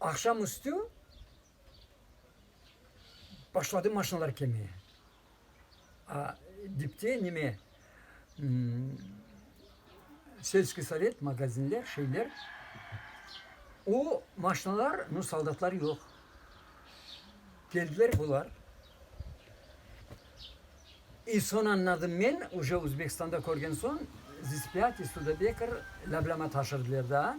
Aqşam üstü başladı maşinalar kelmeye. A dipte neme, Selskıy sovet, magazinler, şeyler. O maşinalar, no soldatlar yoq. Keldiler bular. İ soñ añladım men, uje Özbekistanda körgen soñ, Zıspyat, İstudabekr, Lâblâma taşırdılar daa.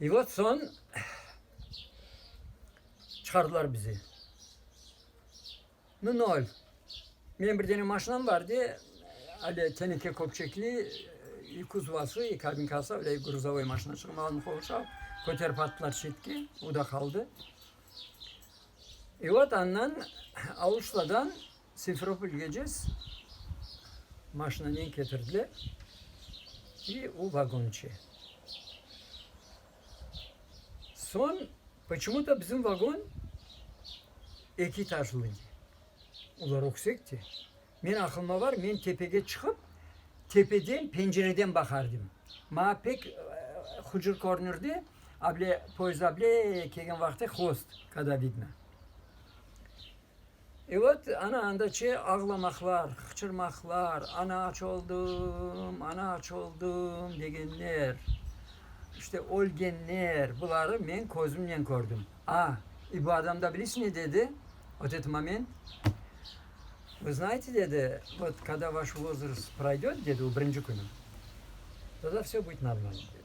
I vot soñ çıqardılar bizi. Nu nol. Menim bir dene maşinam bar edi, ale teneke köpçekli, i kuzovası, i kabinkası, ale gruzavoy maşina çıqım aldım qovuşa, köterip attılar çetke, o da qaldı. I vot andan Auşladan Simferopol gecess maşinanen ketirdiler, i u vagonçe. Soñ poçemu da bizim vagon eki etajlı edi. Olar öksekti. Men aqılıma bar, men tepege çıqıp, tepeden, pencereden baqardım. Maña pek hucur körünirdi, able poezd able kelgen vaqıtı hvost, kada vidno. Evet, ana, anda çe ağlamaqlar, qıçırmaqlar, ana, aç oldım, ana, aç oldım, degenler, işte, ölgenler, buları men közümnen kördim. A, i bu adam da bilisiz ne dedi ot et moment? Vı znayete, dedi, vot kada vaş vozrost proydet, dedi, o birinci künü, tada vse bıt normalno, dedi.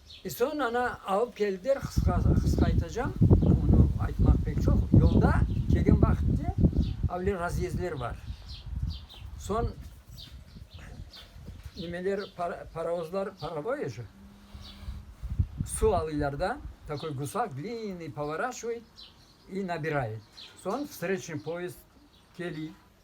E, soñ ana alıp keldiler, qısqa aytacağım, onı aytmaq pek çoq. Yolda kelgen vaqıtte avle razyezdler bar, soñ nimeler, parovozlar, paravoyejı, suv alıylar da, takoy gusak dliyniy, povoraşvıy i nabirayıt, soñ vstreçnıy poezd keliy.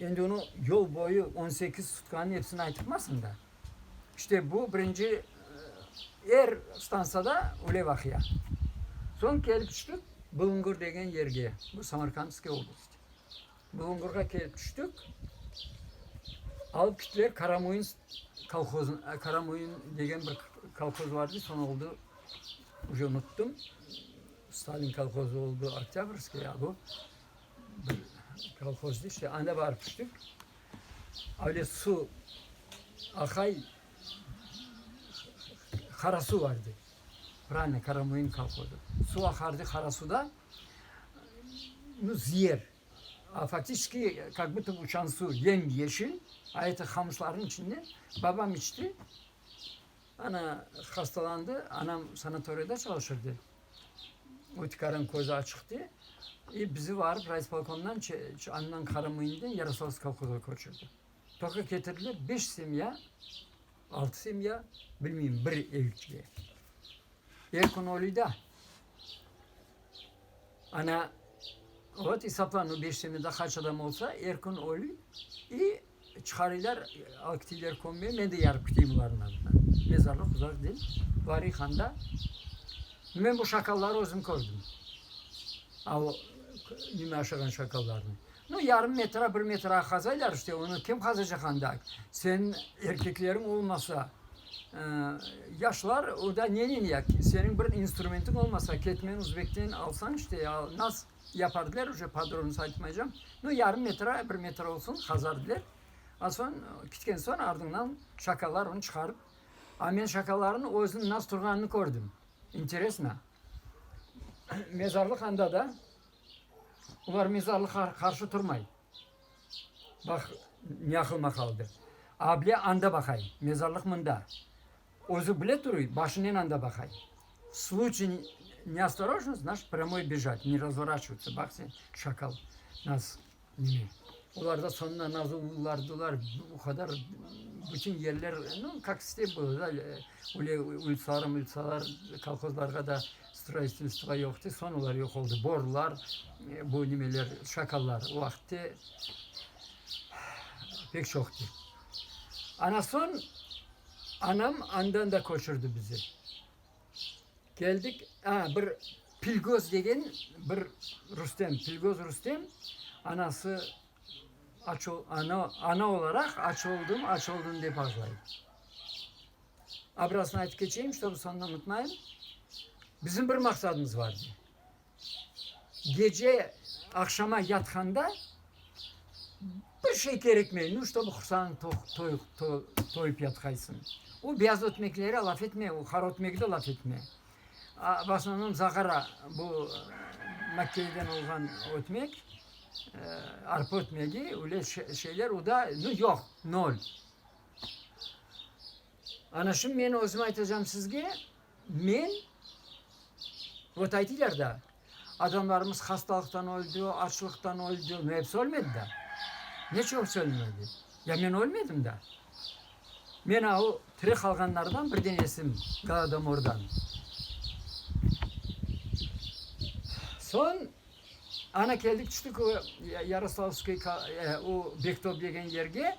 Endi onı yol boyu on sekiz sutkanıñ episini aytıpmasıñ da. İşte bu birinci, er stansiyada öyle vaqia. Soñ kelip tüştik Bulungur degen yerge, bu Samarkandskiy oblast. Bulungurğa kelip tüştik, alıp kittiler Karamoyınsk kolhozın, Karamoyın degen bir kolhoz var edi, soñ oldu, uje unuttum, Stalin kolhozı oldu Oktâbrskiy, a bu bir kolhoz deyiş, anda barıp tüştik. Öyle su, Ahay, Qarasuv vardı. Pravılnı, Karamoyın kolhozı. Su aqardı Qarasuvda, zıyer, faktiçki, kak buta bu uçan su yem yeşil, a eti qamışlarnıñ içinde. Babam içti, ana, hastalandı, anam sanatoriyada çalışırdı. Ötükarın közü açıq de, i, bizi varıp raispolkomdan çe, çe, andan Qaramıyından Yaroslavsk kolhozğa köçürdi. Toka ketirdiler beş semya, altı semya, bilmeyim, bir evitge. Er kün oluyda. Ana, vot esapla, no beş semyada qaç adam olsa, er kün olüy, i, Çıqarıylar aktivler kömmeye, men de yarı küteyim olarnıñ adına. Mezarlıq uzaq degil, Vari handa. Men bu şakalları özüm kördim. A o nime aşağan şakallarnı. No yarım metra, bir metra qazaylar işte, onı kim qazacaq anda? Sen erkekleriñ olmasa, yaşlar, o da nenen ya? Seniñ bir instrumentiñ olmasa, ketmen uzbekten alsañ işte ya, nas? Yapardılar, uje podrobnısı aytmaycam. Nu, yarım metr, a bir metr olsun, qazardılar. A soñ, kütken soñ, ardıñdan şakallar onı çıqarıp. A men şakallarnıñ özüniñ nasıl turğanını kördim. İnteresno. Mezarlıq anda da, olar mezarlıqqa qarşı turmay. Bax, ne aqılıma qaldı. Able anda baqay, mezarlıq mında. Özü bile turuy, başınen anda baqay. Sluçiy neostorojnost, naş prâmoy bejat, ne razvoraçivotsâ, baq sen, şakal, naz, nime. Olar da soñuna naz ulardılar, o qadar bütün yerler, nu, kak step bola da, öyle ulitsalar, mulitsalar, kolhozlarğa da stroyistivstvo yoqtı, soñ olar yoq oldı. Borlar, bu nimeler, şakallar o vaqıtte pek çoqtı. Ana soñ. Anam andan da köçürdi bizi. Keldik, a, bir Pilgöz degen bir Rustem, Pilgöz Rustem, anası aç ol, ana, ana olaraq aç oldım, aç oldım dep ağlay. Abrasını aytıp keçeyim, ştobu soñunı unutmayım. Bizim bir maqsadımız var edi. gece aqşama yatqanda bir şey kerekmey, nu, ştobu qursağıñ toyıp yatqaysıñ. O beyaz ötmekleri laf etme, o qara ötmekni de laf etme. V osnovnom zagara, bu makkeyden olğan ötmek, arpa ötmegi, öyle şeyler, o da, nu, yoq, nol. Ana şim men özüm aytacam sizge, men, vot aytılar da, adamlarımız hastalıqtan öldi, açlıqtan öldi, no episi ölmedi da. Neçe episi ölmedi? Ya men ölmedim da. Men a o tiri qalğanlardan bir denesim, Golodomordan. Soñ ana keldik, tüştik o Yaroslavskıy, o Bektob degen yerge.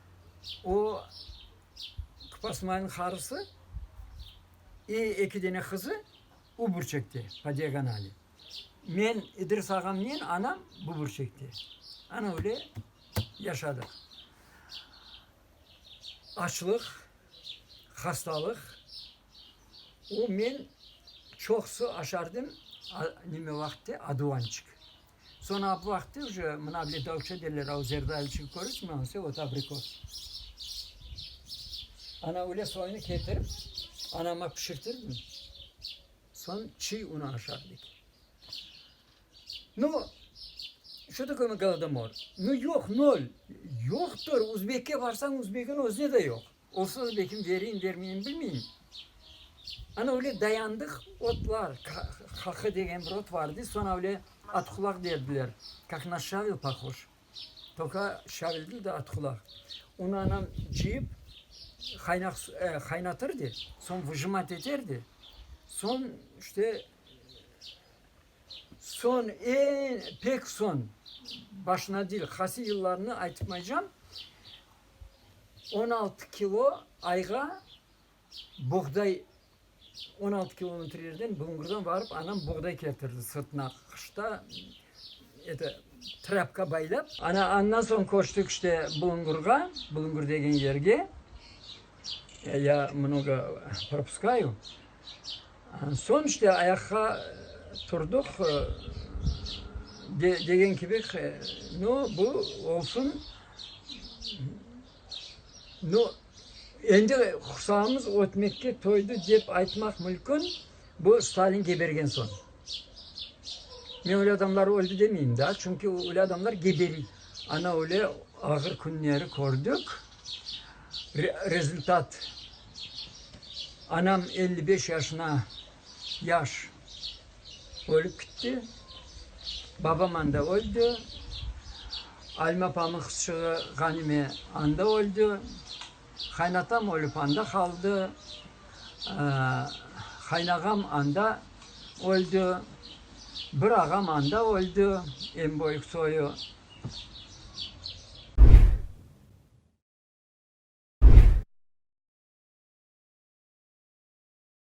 O, Kpasmaynıñ qarısı i eki dene qızı u burçekte, po diagonali. Men, İdris ağamnen anam bu burçekte. Ana öyle yaşadıq. Açlıq, hastalıq. O, men çoqusı aşardım, neme vaqıtte, aduvançik. Soñra ap vaqıtı uje mına bile davutça derler, a o zerde ayılçıgı köresiñ mi, ansı ot abrikos. Ana öyle soyunı ketirip, anama pişirtirdim, soñ çiy unı aşardık. Nu, şo takö mı golodomor? Nu, yoq, nol. Yoqtır, uzbekke barsañ, uzbegin özüne de yoq. Olsa, lekin vereyim, vermeyim bilmeyim. Ana öyle dayandıq, ot var, haqı degen bir ot vardı, soñra öyle atqulaq berdiler, kak naş şavel pohoş, toka şavel değil de atqulaq. Onı anam cıyıp, qaynaq su, e, qaynatırdı, soñ vıjımat eterdi, soñ işte soñ, eñ pek soñ, başına değil, qaysı yıllarını aytmaycam, on altı kilo ayğa buğday, on altı kilometrelerden Bulungurdan varıp anam buğday keltirdi sırtına qışta eto trapka baylap. Ana andan soñ köçtik işte Bulungurğa, Bulungur degen yerge, ya mnogo propuskayü, andan soñ işte ayaqqa turdıq, degen kibi no bu olsun, No, endi qursamız ötmekke toydı dep aytmaq mülkün, bu Stalin gebergen soñ. Men öyle adamlar öldi demeyim daa, çünki öyle adamlar geberi. Ana öyle ağır künleri kördik, rezultat, anam elli beş yaşına Yaş ölip kitti, babam anda öldi, Alime apamın qızçığı Ğanime anda öldi, qaynatam ölip anda qaldı, qaynağam anda öldi, bir ağam anda öldi, eñ böyük soyu.